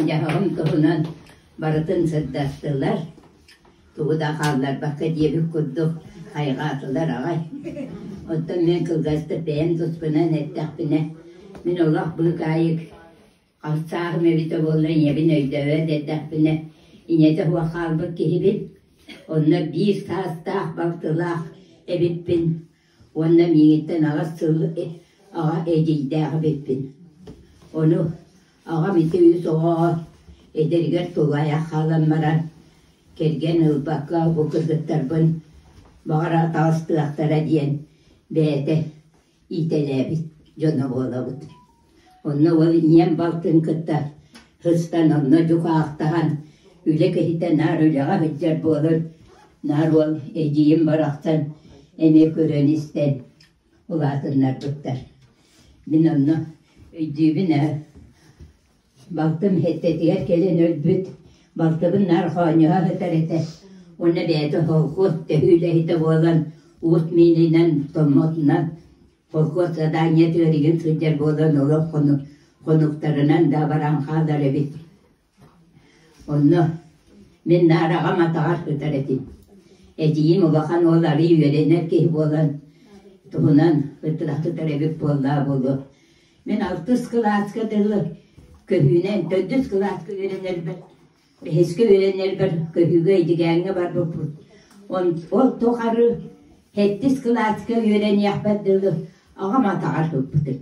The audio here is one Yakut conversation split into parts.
дьаһаҕын туһунан барытын сырдаттылар тугу да хаалларбакка диэбит курдук хайҕаатылар аҕай оттон мен кылгастык бэйэм туспунан эттэхпинэ мин олох былгаайык Хамсааһым эбитэ буоллар ийэбин өйдөөбөт эрдэхпинэ ийэтэ суох хаалбыт киһибин. Онно биир саастаах балтылаах эбиппин уонна миигиттэн аҕыс сыл аҕа эдьиийдээх эбиппин. Ону аҕам ити үс оҕоҕо эдэригэр тулаайах хаалан баран кэргэн ылбакка бу кыргыттарбын баҕара таҕыстыахтара диэн бэйэтэ иитэлээбит дьоно буолабыт. Онно ол ийэм балтын кытта сыстан онно дьукаахтаһан үлэ киһитэ наар үлэҕэ сылдьар буолан наар уол эдьиийим барахсан эмиэ көрөн-истэн улаатыннарбыттар. Мин онно өйдүүбүн ээ Балтым Хиттэтигэр кэлэн өлбүт, балтыбын наар хоонньоһо сытар этэ уонна бэйэтэ холкуос төһүү үлэһитэ буолан уут миининэн томмутунан холкуос задание түөригин сылдьар буолан олох хонук хонуктарынан да баран хаалар эбит. Онно мин наар аҕам атаҕар сытар этим. Эдьиийим улахан уол арыый үөрэнэр киһи буолан туһунан сытар эбит буоллаа буолуо. Мин алтыс кылааска дылы көһүүнэн төрдүс кылааска үөрэнэрбэр бэһискэ үөрэнэрбэр көһүүгэ Эдьигээҥҥэ барбыппыт. Он ол тухары сэттис кылааска үөрэниэхпэр дылы аҕам атаҕар сыппытым.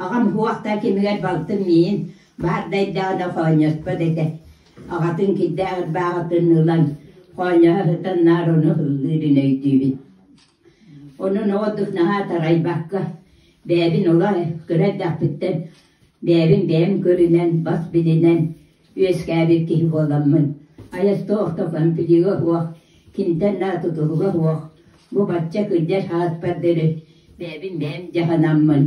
Аҕам суох да кэмигэр балтым миин баардайдаҕына хоонньоспот этэ. Аҕатын кирдээх ырбаахытын ылан хоонньоһо сытан наар ону ыллыырын өйдүүбүн Онон оҕо дук наһаа тарайбакка, бэйэбин олох кыра эрдэхпиттэн бэйэбин бэйэм көрүнэн, бас билинэн үөскээбит киһи буоламмын, айас туох да комплига суох, киниттэн наар тутулуга суох, бу бачча кырдьар сааспардары бэйэбин бэйэм дьаһанаммын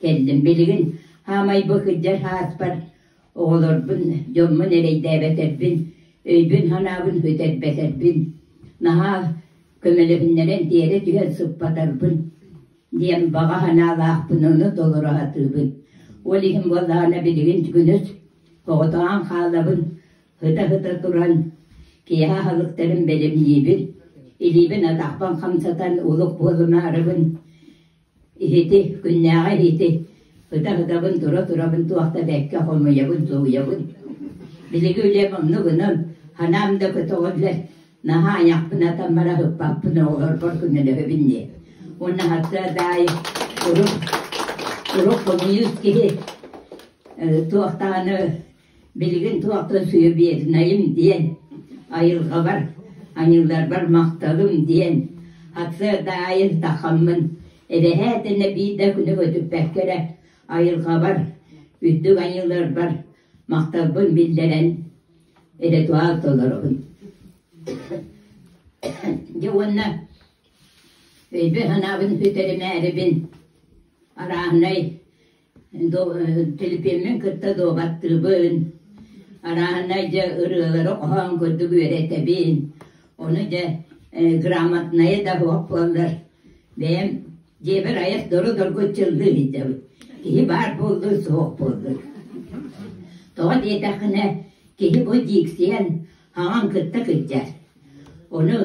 кэллим. Билигин хаамай бу кырдьар сааспар Оҕолорбун, дьоммун эрэйдээбэтэрбин, өйбүн-санаабын үтэрбэтэрбин, наһаа көмөлөһүннэрэн тиэрэ түһэн сыппатарбын диэн баҕа санаалаахпын ону толору сатыыбын. Ол иһин буоллаҕына билигин күнүс оҕотоҕон хаалабын, ыта-ыта туран киэһэ аһылыктарын бэлэмниибин, илиибин атахпын хамсатан улук буолумаарыбын Иһити, күннээҕи иһити ытарытабын, тура-турабын, туох да бэккэ хомуйабын, тулуйабын. Билиги үлэм онну гынан, ханаам да көтөҕөллөр, наһаа айахпын атан баран ыппаппын, оҕолорбор көмөлөһөбүн диэ. Уонна хардаа даайы урут, урут хомуйуут киһи э, туох даҕаны Билигин туох да сыабиэтынайым диэн, айылҕабар, аньыыларбар махталым диэн ацедаайын тахаммын, эбэһээ тэнэ биирдэ күнү көтүппэккэ эрэ айылҕабар, үрдүк аньыыларбар махталбын биллэрэн ритуал толоробун. Дьэ уонна өйбүн-санаабын сүтэримээрибин арааһынай Телепиэммин кытта дуобаттыыбын, арааһынай дьэ ырыалары хоһоон курдук үөрэтэбин, ону дьэ грамотнайа да суох буоллар бэйэм дьиэбэр айар дору-доргу чыллыы сылдьабын, киһи баар буоллун суох буоллун. Тоҕо диэтэххинэ киһи бу дьиксийэн хаҥан кытта кырдьар, ону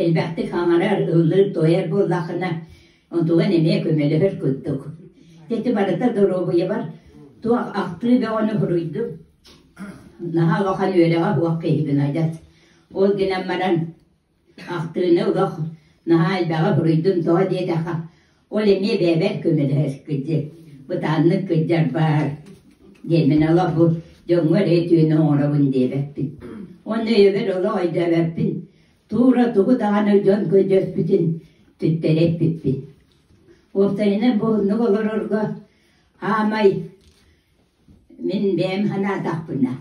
элбэхтик хаҥарар, ыллыыр-туойар буоллаххына Онтуган эмиэ көмөлөһөр курдук. Ити барыта доруобуйабар туох ахтыы бөҕөнү суруйдум. Наһаа улахан үөрэҕэ суох киһибин адьас. Ол гынан баран ахтыыны олох наһаа элбэҕи суруйдум тоҕо диэтэххэ ол эмиэ бэйэбэр көмөлөһөр кырдьык бытааннык кырдьарбаар диэн мин олох бу дьоҥҥо эрэ үтүөнү оҥоробун диэбэппин. Уонна өйөбөр олох өйдөөбөппүн Туура тугу даҕаны дьон-көдьүөспүтүн түттэрэ эппиппин. Уопсайынан буһуннук олорорго аамай мин бэйэм санаатахпына,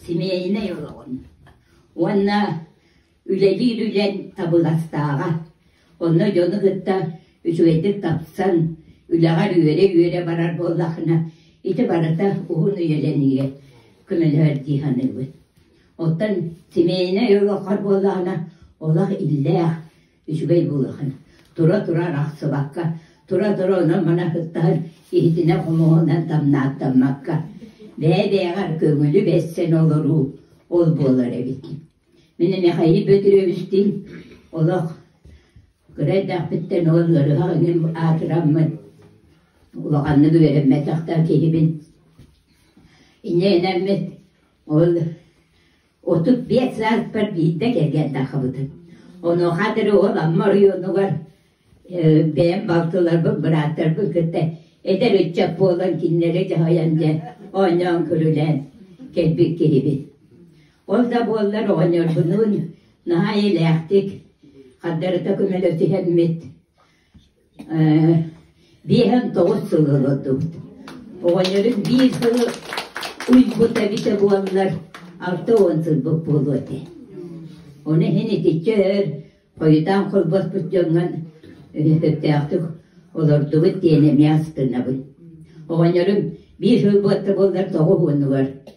симиэйинэй олоҕун уонна үлэлиир үлэн табыгастааҕа, онно дьону кытта үчүгэйдик тапсан, үлэҕэр үөрэ-үөрэ барар буоллаххына, ити барыта уһун үйэлэниигэ көмөлөһөр дии саныыбын. Оттон семейнай олоххор буоллаҕына, олох иллээх, үчүгэй буолуоххун. Тура-тура арахсыбакка, тура-тура онон-мана һыттаһан, иһитинэ-хомуһунан тамнааттаммакка, бэйэ-бэйэҕэр көҥүлү бэссэн олоруу ол буолар эбит. Мин Михаил Петровичтыын олох кыра эрдэхпиттэн ол ыарыһах иҥин аатыраммын, улаханнык үөрэммэтэхтэр киһибин. Инньэ гынаммыт Ол отут биэс сааспар биирдэ кэргэн тахсыбытым. Онуоха атары ол Амма оройуонугар э, бэйэм балтыларбын, бырааттарбын кытта эдэр ыччат буолан кинилэри дьаһайан дьэ оонньоон көрүлээн кэлбит киһибит. Ол да буоллар оҕонньорбунуун наһаа эйэлээхтик, хардарыта көмөлөсүһэммит Биэһэм тоҕус сыл олордубут. Оҕонньорум биир сылы уйбут эбитэ буоллар, алта уон сылбыт буолуо этэ. Ону иһин итиччэ өр хойутаан холбоспут дьоҥҥон сөптөөхтүк олордубут диэн эмиэ астынабын. Оҕонньорум биир сыл буолла буоллар тоҕус уонугар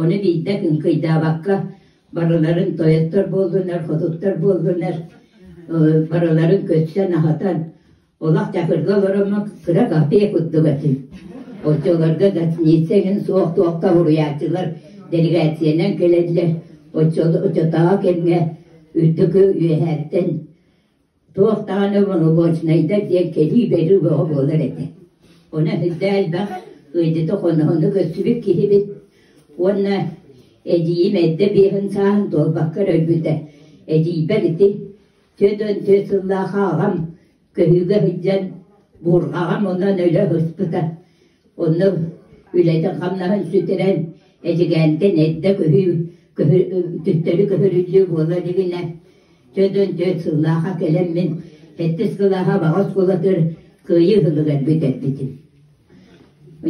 Ону биирдэ кыҥкыйдаабакка, барыларын тойоттор буоллунар, хотуттар буоллунар, барыларын көрсөн-аһатан, олох Дьакырга олороммун кыра кафе курдук этим. Оччолорго гостиница эҥин суох туохха буруйааччылар делегациянан кэлэллэр, оччотооҕу кэмҥэ үрдүкү үөһээттэн Туох даҕаны боломуочунайдар диэн кэлии-бэрии бөҕө буолар этэ, онон эрдэ элбэх ыйдыты-хоноһуну көрсүбүт киһибит уонна эдьиийим эрдэ биэһин сааһын туолбакка өлбүтэ. Эдьиийбэр ити түөрт уон түөрт сыллаах аҕам көһүүгэ сылдьан буурҕаҕам онон өлө сыспыта Онно үлэтин-хамнаһын сүтэрэн, эдьигээнтэн эрдэ көһүү көһө төттөрү көһөрүллүү буолуо илигинэ, дьон түөрт сыллаахха кэлэн мин сэттис кылааһа баҕа оскуолатыгар кыайыы ыһылыгар бүтэрбитим.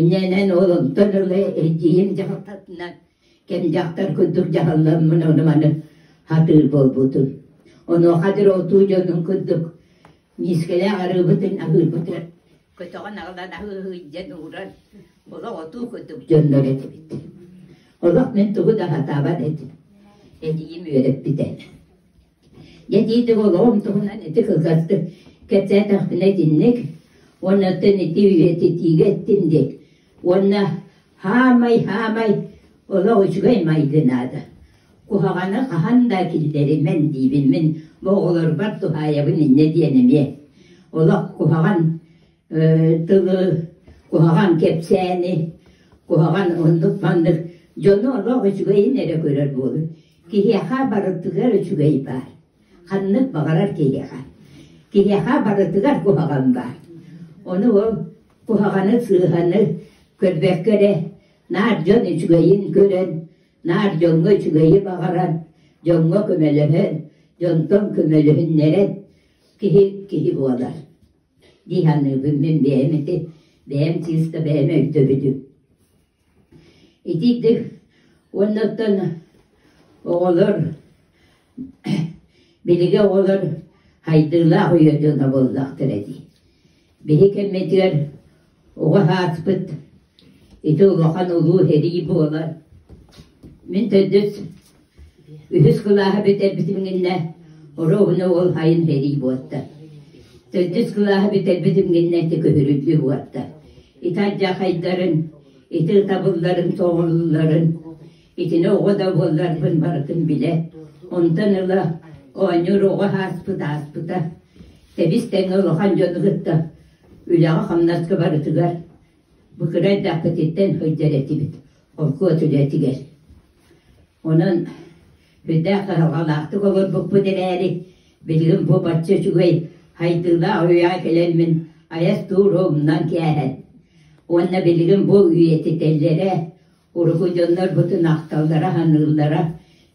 Иннэнэн ол онтон ыла эдьиийим дьахтатынан кэм дьахтар курдук дьаһалламмын ону-маны сатыыр буолбутум. Онуоха диэри отуу дьонун курдук Миискэлээх арыыбытын аһыырбытыгар көтөҕөн аҕалан аһыы иһийдэн ууран олох отуу курдук дьоннор этибит. Олох мин тугу да сатаабат этим. Этиим үөрэппитэ. Дэтиитик олоҕум туһунан ити кылгастык кэпсээтэхпинэ итинник, уонна оттон ити үйэтитиигэ эттим диэн Уонна «Хаамай, хаамай, олох үчүгэй майгы наада, куһаҕаны хаһан да кирдэримэн» диибин мин бу оҕолорбор туһаайабын иннэ диэн эмиэ. Олох куһаҕан э, тылы, куһаҕан кэпсээни, куһаҕан оннук-маннык дьону олох үчүгэйин эрэ көрөр буолун. Киһиэхэ барытыгар үчүгэй баар. Ханнык баҕарар киһиэхэ. Киһиэхэ барытыгар куһаҕан баар. Ону ол куһаҕаны сыыһаны көрбөккө эрэ наар дьон үчүгэйин көрөн наар дьоҥҥо үчүгэйи баҕаран дьоҥҥо көмөлөһөн дьонтон көмөлөһүннэрэн киһи киһи буолар дии саныыбын мин бэйэм ити бэйэм чыыска бэйэм өйдөбүлүм Итиитик уоннаттан оҕолор биһиги оҕолор сайдыылаах үйэ дьоно буоллахтар этэ. Биһи кэммитигэр оҕо сааспыт ити улахан улуу сэрии буолан мин төрдүс Үһүс кылааһы бүтэрбитим гынна, оруобуна уол хайын сэрии буолта. Төрдүс кылааһы бүтэрбитим гынна ити көһүрүллүү буолта. Ити адьахайдарын, ити ытабылларын тоҥулларын, итини оҕо да буолларбын барытын билэ, онтон ыла оонньуур оҕо ааспыт ааспыта. Тэбис тэҥэ улахан дьону кытта үлэҕэ-хамнаска барытыгар Быкырайдаахпытыттан сылдьар этибит холкуос үлэтигэр. Онон сүрдээх сыһалҕалаахтык олорбуппут эрээри, билигин бу бачча үчүгэй сайдыылаах үйэҕэ кэлэммин айас туура умнан кээһэн уонна билигин бу үйэтитэллэрэ, урукудьуннар бу тунахталлара саныыллара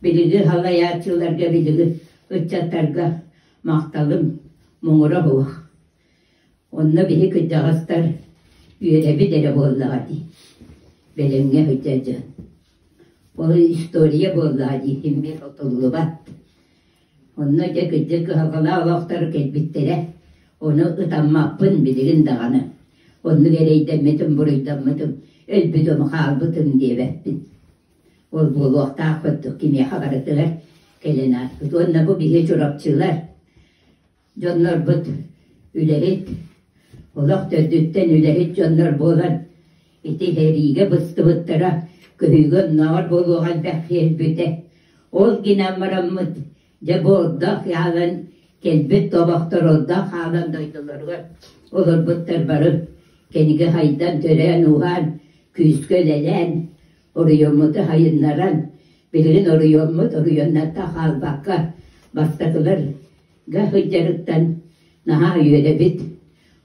билиги салайааччыларга, билиги ыччаттарга махталым муҥура суох. Онно били кырдьаҕастар үөрэбит эрэ буоллаҕа дии, бэлэмҥэ сылдьар дьон. Ол история буоллаҕа дии, иммир отуллубат. Онно дьэ кырдьык кыһалҕалаах олохтор кэлбиттэрэ. Ону ытаммаппын билигин даҕаны. Оннук эрэйдэммитим, буруйдаммытым, өлбүтүм, хаалбытым диэбэппин. Ол буолуохтаах курдук, кимиэхэ барытыгар кэлэн ааспыт. Уонна бу биһи Чурапчылар Дьоннорбут үлэһит, олох төрдүттэн үлэһит дьоннор буолан, ити иһэриигэ быстыбыттара көһүүгэ оннооҕор буолуоҕа элбэх биэрбитэ. Ол гынан бараммыт, дьэ буолдаах хаалан, кэлбит тобохтор олдоох хаалан дойдулоругар олорбуттар бары, кинигэ хайдан, төрөөн-ууһаан, күүскэ үлэлээн, оройуоммут айыннаран, билигин оройуоммут оройуоннарга хаалбакка, бастакыларга сылдьарыттан наһаа үөрэбит.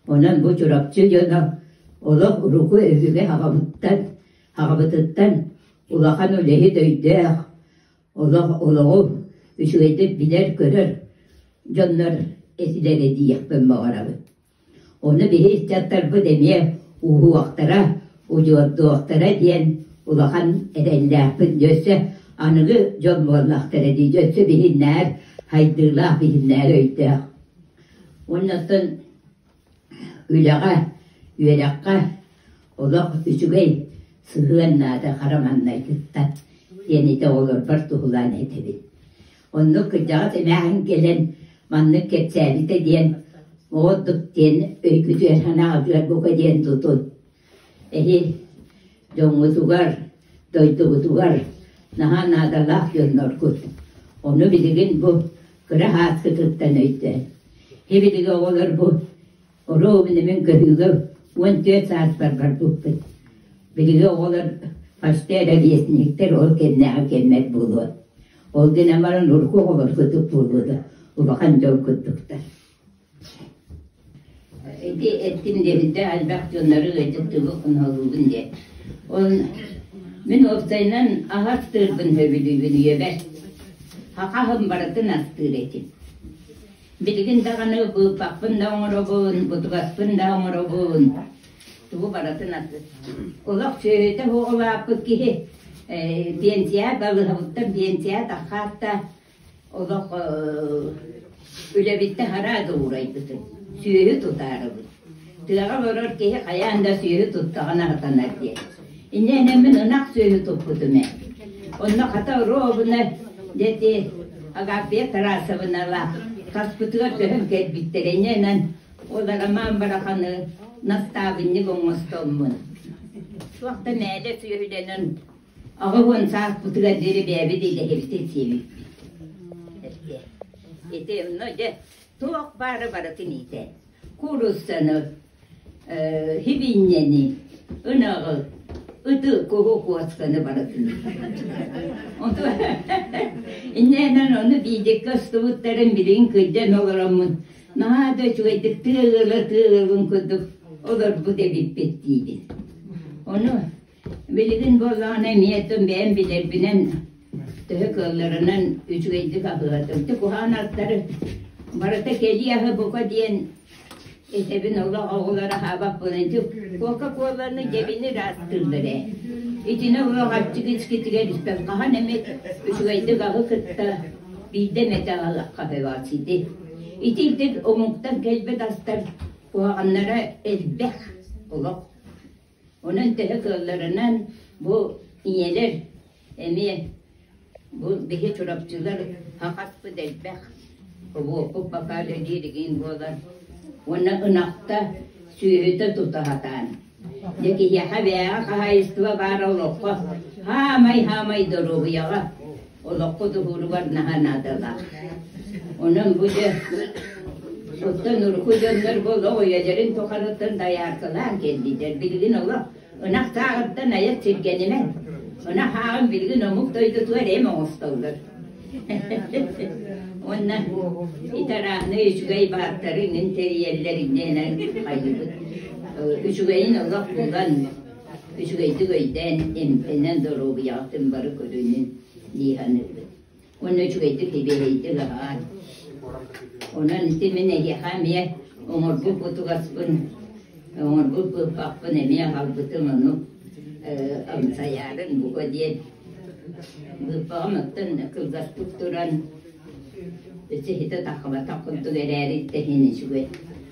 Онон бу Чурапчы дьоно олох урукку өбүгэ аҕамыттан, аҕабытыттан улахан үлэһит өйдөөх, олох олоҕу үчүгэйдик билэр-көрөр дьоннор этилэрэ диэхпин баҕарабын. Ону били ыччаттарбыт эмиэ ууһуохтара, удьуордуохтара диэн улахан эрэллээхпин, өссө аныгы дьон буоллахтара дии, өссө биһин нээр сайдыылаах, биһин нээр өйдөөх. Оннуттан үлэҕэ, үөрэххэ олох үчүгэй сыһыан наада хараманнайгыттан диэн ити оҕолорбор туһулаан этэбин. Оннук кырдьаҕас эмээхсин кэлэн маннык кэпсээбитэ диэн оҕо ордук диэн өйгүтүгэр санаҕа бука диэн тутун. Эһи дьоҥҥутугар, дойдугутугар наһаа наадалаах дьонноргут. Ону билигин бу кыра һааскытыттан өйдөөн. Һи билиги оҕолор бу Ороо мин эмиэ көһүүлэр уон түөрт саастарбар укпут. Биһиги оҕолор фаште эрэ лесниктэр ол кэннээҕи кэммэр буолуо. Ол гынан баран урукку оҕолор курдук буолууну улахан дьол курдуктар. Ити эттим дэһилдэ элбэх дьоннору ыйдык тылы хоноһолуубун диэн. Ол мин уопсайынан ах астыырбын сөбүлүүбүн үйэбэр. Хахаһым барытын астыыр этим. Билигин даҕаны быыппаппын да оҥоробун, бутугаспын да оҥоробун. Тугу барытын олох сүөһүтэ суох улааппыт киһи э, биэнсийэ балыһабыттан биэнсийэ таххаатта олох э, үлэбиттэн хараа да уурайбытын сүөһү тутаарыбыт Тыаҕа олорор киһи хайаан да сүөһү туттаҕын аһатынар диэн. Инньэ мин ынах сүөһү туппутум ээ. Онно хата оруобуна дети Агафия Тарасовналаах хаспытыгар көһөн кэлбиттэрэ иннэнэн ол Роман Бараханы настаабынньык оҥостоммун. Суох да мээлэ сүөһүлэнэн аҕа уон сааспытыгар диэри бэйэбит идэһибитин сиэбиппит. Ити онно дьэ туох баары барытын иитэ. кууруссаны э, хибииннэни ынаҕы ыты куһукуосканы барытын иннэнэн ону биидикке астыбыттарын билигин кырдьан олороммун наһаа да үчүгэйдик тыалыла тыалыбын курдук олорбут эбиппит диибин ону Билигин бу даҕаны эмиэ тыл бэйэм билэрбинэн, төһө кыалларынан үчүгэйдик аһыатым. Ити куһаҕан ардары барыта кэлии аһы бука диэн этэбин олох оҕолор аһаабаппын. Ити Кока-Коланы дьэбини ырааттыыллар ээ. Итини олох аччыгычкитигэр испэт. Хаһан эмит үчүгэйдик аһы кытта биирдэ эмэтэ аһалахха ити. Ити ирдин омуктан кэлбит астар куһаҕаннара элбэх олох. Онон төһө кыалларынан бу ийэлэр эмиэ бу биһи Чурапчылар хахарпыт элбэх обуокпут бакаалыа дииригин буолар уонна ынахта сүөһүтэ тута сатаан дьэ киһиэхэ бээҕэ хаһаайыстыба баара олоххо хаамай хаамай доруобуйаҕа олоххо туһууругар наһаа наадалаах. Онон бу дьэ оттон урукку дьоннор бу олох үйэлэрин тухарыттан дайааркалаан кэллилэр. Билигин олох ынах тааҕырдан айат сиргэнимэн. Ынах ааҕын билигин омук дойдутугар эм оҥостоллор. Онно итарааны үчүгэй бааттарын интериэллэриннэн хайыбыт. Үчүгэйин олох булан үчүгэйдик өйдөөн, эмтэнэн, доруобуйаҕа түн бары көрүнүн дии саныыбын. Уонна үчүгэйдик сибиэһэйдик аһаан. Онон ити мин эһиэхэ эмиэ оҥорбут бутугаспын, оҥорбут быыппаппын эмиэ аҕалбытым ону амсайаарын бука диэн быыппаҕым оттон кылгаспыт туран сиһитэ таххабатах курдук эрээри тэһин үчүгэй.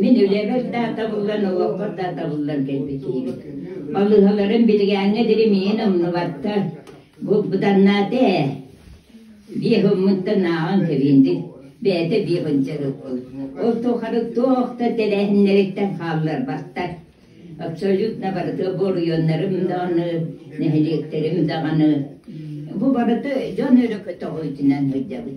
Мин үлэбэр да табыллан, олохпор да табыллан кэлбит киһибин. Балыыһаларым билигээҥҥэ дири миин умнубаттар. Бубданнаата ээ. Биир хоммуттан ааҕан кэбиин дии. Бэйэтэ биир хончарыкпын. Ол тухары туох да тэрээһиннэриттэн хаалларбаттар. Абсолютно барыта буруйуннарым даҕаны, нэһилиэктэрим даҕаны. Бу барыта дьон өрө көтөҕүүтүнэн сылдьабын.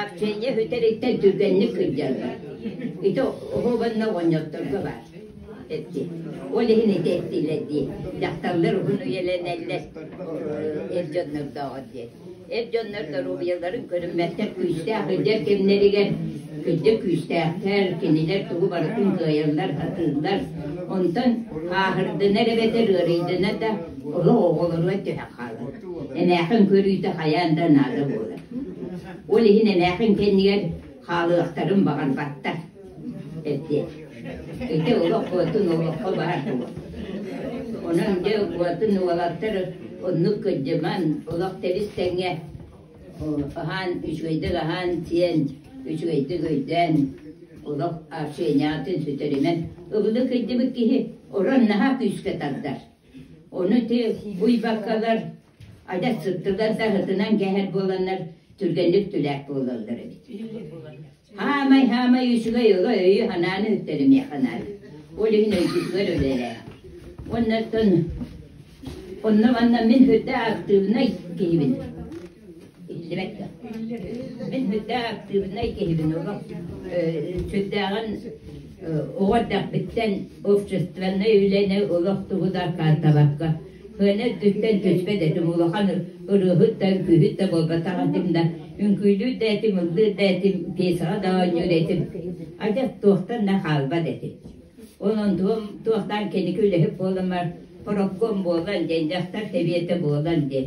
Арсения үтэриттэн түргэнник сылдьаллар. Ити оһуобанна оҕонньотторго баар эtti. Ол иһин ити эттилэр дии. Дьахталлар уһун үйэлэнэллэр эр дьоннордооҕор диэн. Эр дьоннор доруобуйаларын көрүммэттэр күүстээх үлдэр кэмнэригэр күндэ күүстээхтэр, кинилэр тугу барытын кыайаллар, сатыыллар. Онтон ааһырдынар эбэтэр ыарыйдынар да, олох оҕолоругар түһэх хаалар. Эмээхин көрүүтэ хайаан да наада буолар. Ол иһин эмээхин кэннигэр хаалыахтарын баҕан баттар эрдэ. Ити олоххотун олоххо баар буол. Онон дьэ уотун уолаттар оннук кырдьыман олох тэбис тэҥҥэ аһаан үчүгэйдик аһаан сиэн үчүгэйдик өйдөөн олох общениятын сүтэримэн ыбылы кырдьыбыт киһи орон наһаа күүскэ тардар. Ону тыа буйбаккалар айда сыттыгар да хытынан кэһэр буоланнар түргэнник түлээх буолаллар эбит. Хаамай хаамай үчүгэй ыга өйү ханааны үттэлимиэхэ наай. Ол иһин өйгүтүгэр өлөрэ. Оннаттан онно манна мин хүрдэ актыыбынай киһибин. биллибэт да. Мин бүтэ активнай киһибин олох сүрдээҕин оҕо эрдэхпиттэн общественнай үлэни олох тугу да каантабакка кыаны өттүттэн көспө да этим улахан ырыаһыт да үҥкүүһүт да буолбатах этим да үҥкүүлүүр да этим ыллыыр да этим пьесаҕа да оонньуур этим адьас туохтан да хаалбат этим онон туохтан киники үлэһит буоламар профком буолан диэн дьахтар сэбиэтэ буолан диэн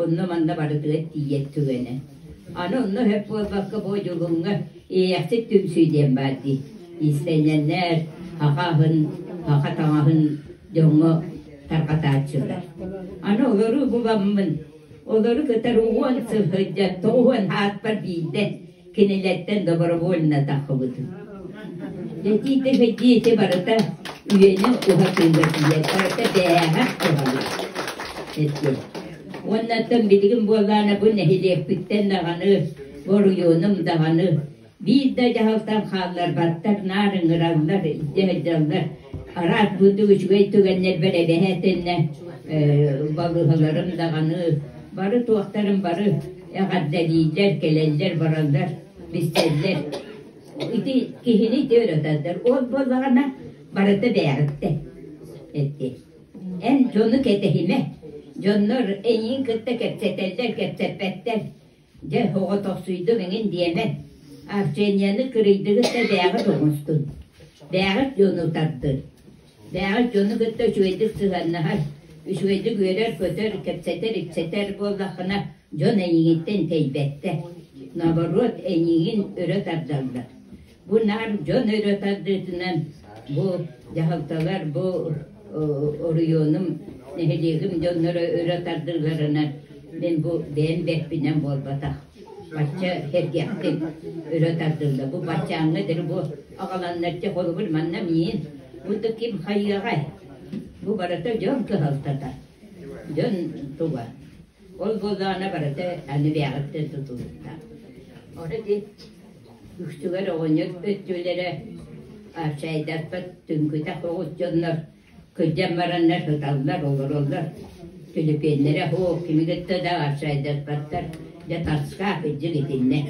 онно-манна барытыгар тиийэр түгэнэ. Аны онно сөп буолбакка бу Дьулуҥҥа иэйэхсит түмсүү диэн баар дии. Иистэнньэннэр хаха аһын, хаха таҥаһын дьоҥҥо тарҕатааччылар. Аны олору буламмын, олору кытары уһуон сылдьан тоҕуһуон аатпар биирдэ кинилэртэн добровольно таххыбытым. Дэтии-тэхэ дьиэти барыта үйэни уһатыыга тиийэр, барыта бэйэҕэх туһалык. Эттэ. Оннаттан билигин буоллаана бу нэһилиэкпиттэн даҕаны боруйуонум даҕаны биир да дьаһалтан хаалларбаттар наар ыҥыраллар, идэ сылдьаллар. Араас бурдук үчүгэй түгэннэрбэр эбэһээтэннэ балыһаларым даҕаны бары туохтарым бары Эҕэрдэлииллэр, кэлэллэр, бараллар, билсэллэр. Ити киһини ити ырыталлар. Ол буоллаҕына барыта бээҕиттэ эттэ. Эн дьону кэтэһимэ. Дьоннор эйиин кытта кэпсэтэллэр, кэпсэппэттэр. Дьэ, оҕотохсуйдум эҥин диэмэн. Арсенияны кырыйдыгыт да дээҕит оҥостун. Дээҕит дьону тардын. Бээҕи дьону кытта үчүгэйдик сыһыаннаһар, үчүгэйдик үөрэр-көтөр, кэпсэтэр-ипсэтэр буоллаххына, дьон эйиигиттэн тэйбэттэр. Наоборот, эйиигин өрө тардаллар. Бу наар дьон өрө тардыытынан бу дьаһалталар бу оройуонум, нэһилиэгим дьонноро өрө тардыыларынан мин бу бэйэм бэрпинэн буолбатах. Бачча сэргэхтик өрө тардыллар. Бу баччааҥҥа эдэр бу аҕаланнар дьэ холобур манна миин, бу да ким хайыаҕай? Бу барыта дьон кыһалтата, дьон туга. Ол буоллаҕына барыта аны бэйэҕиттэн тутулуктаах. Ора ди үксүгэр оҕонньор өттүлэрэ чайдарпат түҥкүтэх оҕус дьоннор Кырдьан бараннар ыталлар, олороллор. Филиппиннэрэ «Оһо, кими кытта да арчайдаспаттар, дьэ таска кырдьык итиннэ».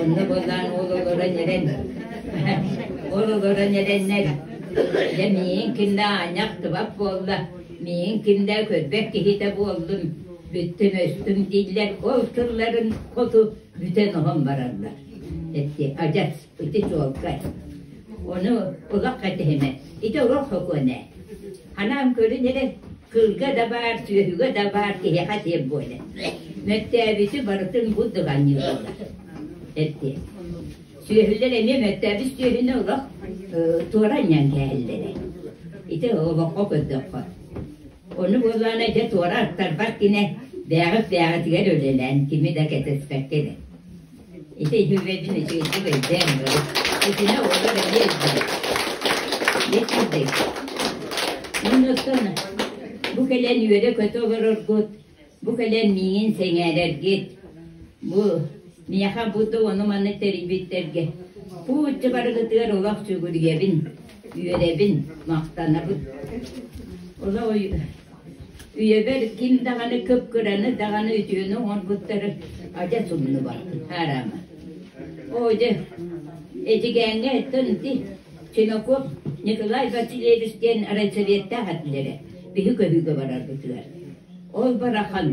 Онно буоллаан ол олорон эрэн ол олорон эрэннэр дьэ миигин кимдэ аанньах тыбат буолла, миигин кимдэ көрбөт киһитэ буоллум, бүттүм-өстүм дииллэр, ол тылларын хоту бүтэн оһон бараллар. Эти адьас ити чуолкай. Ону ылах кэтэһимэ. Ити олох сокуона. Ханаам көрүн эрэ кылга да баар, сүөһүгэ да баар киһиэхэ тиэм буоле. Мөттөөбүтү барытын буддуганныы буолар. Эртиэ. Сүөһүлэр эмиэ мөттөөбүт сүөһүнү олох туоранньан кээһэллэрэ. Ити олоххо көрдөххө. Ону буоллаана дьэ туора аттарбат кинэ бээҕит бээҕитигэр үлэлээн кими да кэтэспэккэ Ити иһиллээтин ичигирдик эйдээн бары. Итинэ уола бэлиэ эйдилэр. Итирдей. Оннуктана. Бу кэлэн үөрэ-көтө олороргут. Бу кэлэн миигин сэҥээрэргит. Бу миэхэ будда ону манна тэрийбиттэргэ. Пуучча барыгытыгар олох сүгүрүйэбин. Үөрэбин, махтанабын. Ола Үйэбэр ким даҕаны кып-кыраны даҕаны үтүөнү оҥорбуттар адьас умнуба, аараама. Оо дьэ, Эдьигээҥҥэ Тынти, Ченоков Николай Васильевич диэн райсоветтаах этилэрэ биһи көһүүгэ барарбытыгар. Ол барахан,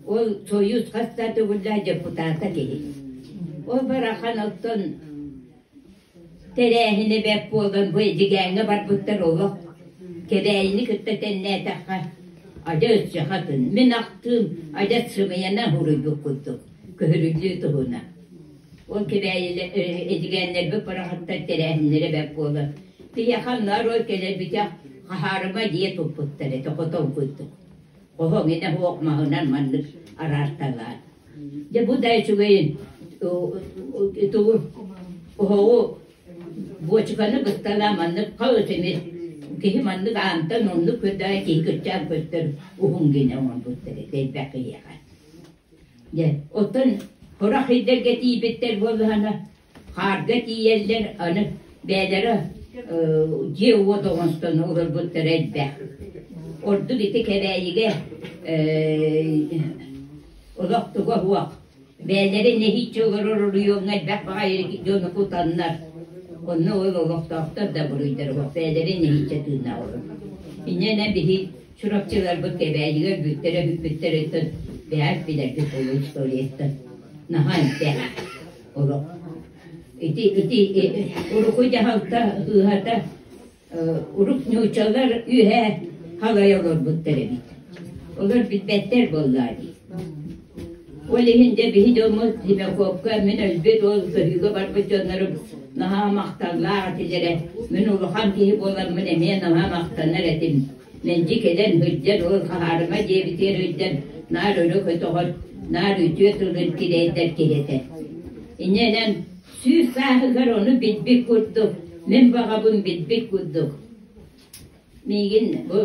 ол Союз хас да төгүллээх депутата киһи. Ол барахан оттон Тэрээһинэ бэрт буолан бу Эдьигээҥҥэ барбыттар олох Кэбээйини кытта тэннээтэххэ адьас өччөхөтүн, мин ахтыым, адьас сымыйана уруйбут курдук көһөрүллүү туһунан. Ол Кэбээйилэ Эдьигээннэрбит барахаттар тэрээһиннэрэ бэрт буолан биһиэхэ нарой кэлэр бүтэх хаһаарыма дьиэ туппуттар этэ хотол курдук. Хоһоҥ инэ оһох маһынан маннык араарталаан Дьэ бу да үчүгэйин оһоҕу буочуканы кыттана маннык хаҕыс ини киһи маннык аантан оннук көрдөҕө киһи кыччаан көттөр уһун гинэ оҥорбуттар тэйбэх киһиэхэ дьэ оттон хорох ирдэргэ тиийбиттэр буоллаһына Хаарга тиийэллэр аны бэйэлэрэ дьиэ-уот оҥостон олорбуттара элбэх. Ордук ити Кэбээйигэ олох туга уох. Бэйэлэрэ нэһииччэ олорор оройуоҥҥа элбэх баҕайы дьону кутаннар, онно ол олохтоохтор да буруйдара уох. Бэйэлэрэ нэһииччэ тыыннаах олор. Иннэнэн биһи Чурапчыларбыт Кэбээйигэ өлбүттэрэ-бүппүттэриттэн бэйэ билэрбит ол историяттан. Наһаа элбэх. олох ити ити урукуй дьаһалта ыһата урук нуучалар үөһэ халайа олорбуттар эбит олор билбэттэр буоллаа дии ол иһин дьэ биһи дьоммут зимяковка мин өлбүт уол сырыыга барбыт дьоннорум наһаа махталлаах этилэрэ мин улахан киһи буоламмын эмиэ наһаа махтанар этим Мэлдьи кэлэн сылдьар уол хаһаарыма диэбитигэр өйдөөн наар өрө көтөҕөр, наар үтүө тылын тирэйдэр киһи этэ. Иннэнэн сүүс сааһыгар ону билбит курдук, мин баҕабын билбит курдук. Миигин бу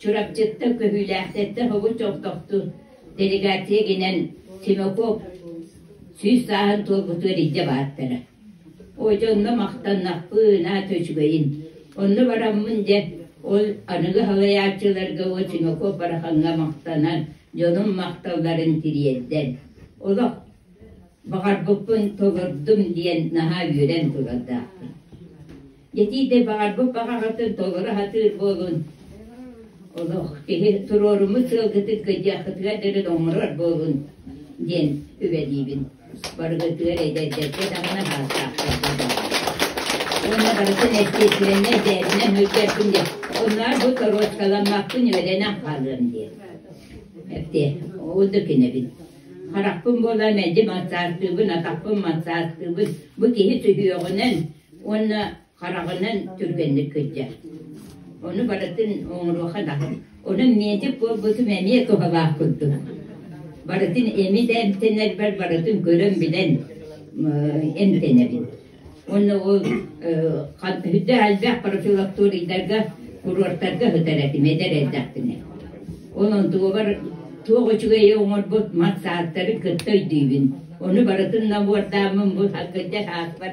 Чурапчытта көһүүлээхтэртэ хобут чохтохту делегация гинен Симаков сүүс сааһын туолбутугар илдьэ баартара. Уотя онно махтаннахпын, аата үчүгэйин, онно бараммын дьэ, ол аныгы салайааччыларга Очиҥокоп Барахаҥҥа махтанан, дьонум махталларын тириэрдэн, олох баҕарбыппын толордум диэн наһаа үөрэн турардаахпын Дэтиитэ баҕарбыт баҕаҕытын толору аһатыыр буолун. Олох киһи туруоруммут сыалгытын кыйдыаххытыгар дылы оҥорор буолун диэн үлэлиибин. Барыгытыгар эдэрдэргэ даҕаны аһааттаахтарга баҕар. Уонна барытын эстиэсилэннэр дээринэн өйдөөппүн диэн оннугар бу торуочкаламмаппын үөрэнэн хаалыам диэн. Эптиэ, оннук инэбин. Харахпын буолан мэлдьи массаастыыбын, атахпын массаастыыбын. Бу киһи сүһүөҕүнэн Уонна хараҕынан түргэнник кырдьар. Ону барытын оҥоруоха даҕан. Онон медик буолбутум эмиэ туһалаах курдук. Барытын эми да эмтэнэрбэр барытын көрөн-билэн эмтэнэбин. Уонна ол үрдэ элбэх профилакторийдарга, курортарга сытар этим эдэр эрдэхпинэ. Онон туобар туох үчүгэйи оҥорбут мас ааттары кытта өйдүүбүн. Ону барытын набордааммын бу кырдьар аатпар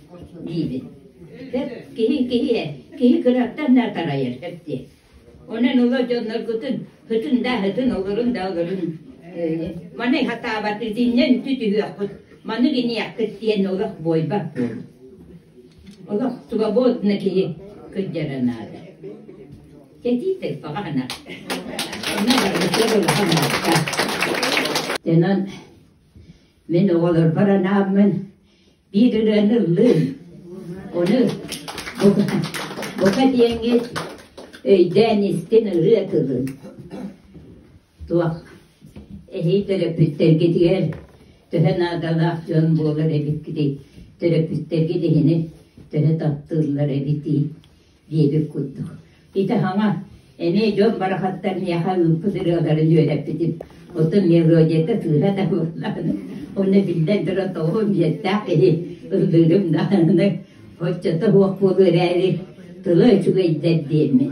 диибит. киһи киһиһэ, киһи кыраттан да тарайар эпти. Онон олор дьонноргутун хытын да хытын олорун да олорун маны хатаабат итиннэн түтүһүөхпут маны гиниэхпит диэн олох буойбаппын олох свободна киһи кырдьара наада кэтиитек баҕана онно барбыттар улахан наада дэнэн мин оҕолорбор анааммын Биир-ырыаны ыллыын. Ону бука, бука диэҥҥит өйдөөн истин ырыа тылын. Туох эһиги төрөппүттэргитигэр төһө наадалаах дьон буолар эбиккитий? Төрөппүттэргит иһини төһө таптыыллар эбитий? диэбит курдук. Ити хаҥа, эмиэ дьон барахаттар миэхэ ыыппыт ырыаларын үөрэппитим. Оттон мелодията сыыһа да буоллаҕына, онно биллэн туран тоҕо биэртээх киһи ыллыырым даҕаны, оччото суох буолуо эрээри, тыла үчүгэйдэр диэммин.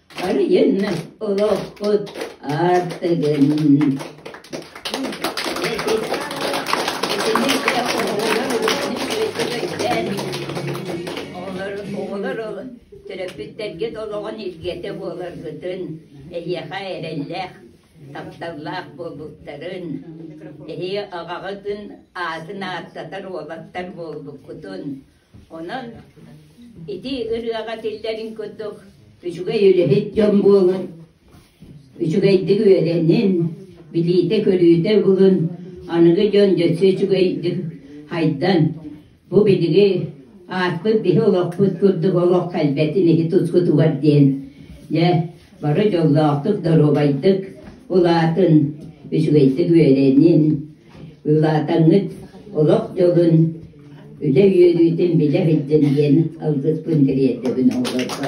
Байыаннай олохпут аттыгын Төрөппүттэргит олоҕун илгэтэ буоларгытын, эһиэхэ эрэллээх, тапталлаах буолбуттарын, эһиги аҕаҕытын аатын ааттатар уолаттар буолбуккутун, Онон ити ырыаҕа тиллэрин курдук үчүгэй үлэһит дьон буолун, үчүгэйдик үөрэнин, билиитэ-көрүүтэ булун, аныгы дьон өссө үчүгэйдик хайдан, бу биһиги ааспыт биһи олохпут курдук олох кэлбэтин иһи тускутугар диэн дьэ бары дьоллоохтук, доруобайдык улаатын, үчүгэйдик үөрэнин, Ылаатаҥҥыт олох дьолун, үлэ үөрүүтүн билэ иһиллин диэн алгыспын тириэрдэбин оҕолорго.